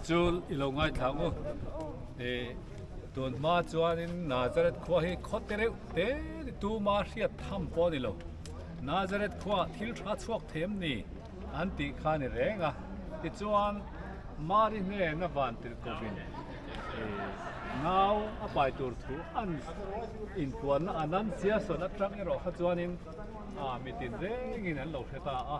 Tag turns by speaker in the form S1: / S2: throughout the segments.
S1: Chu i lo ngaithla maw? Eh, tun hma chuanin Nazareth khua hi khaw te reuh te ni tuma hriat tham pawh a ni lo. Nazareth khuaah thil tha chhuak thei em ni? an tih kha a ni reng a. Tichuan, Mari hnen a van tirh kovin, eh, ngau a pai tur thu an inpuanna a nan siasawn aṭang erawh kha chuanin, ah, mitin rengin an lo hre ta a.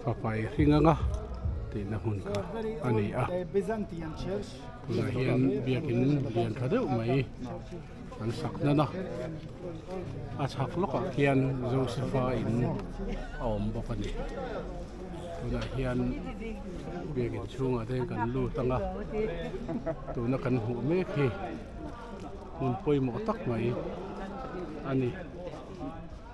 S1: Fafai Hringanga
S2: tihna hmun kha a ni a,
S3: tunah hian
S2: biakin lian tha deuh mai an sak nana, a chhak lawkah khian Josepha in a awm bawk a ni. Tunah hian biakin chhungah te kan lut ang a, tuna kan hmuh mek hi hmun pawimawh tak mai a ni.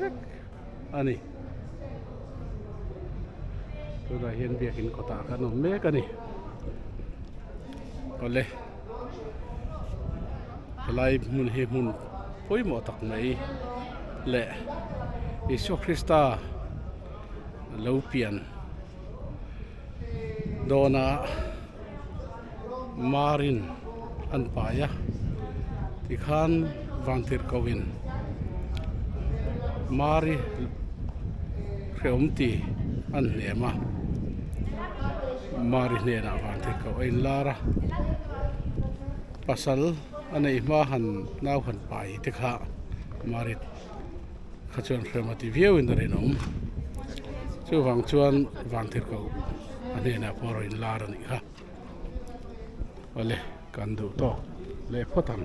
S2: vek a ni. Tunah hian biakin kawtah kan awm mek a ni. Awle helai hmun hi hmun pawimawh tak mai leh Isua Krista lo pian dawnah, marin an pai a tikhan vang tir ko in mari hreawm ti an hnem a mari hnenah vang tir ko a in lar a pasal a neih hma han nau han pai te kha mari kha chuan hreawm a ti viau in a rinawm chuvang chuan vang tir ko a hnenah pawh a rawn in lar a nih kha. Awle kan duh tawk leh phawt ang.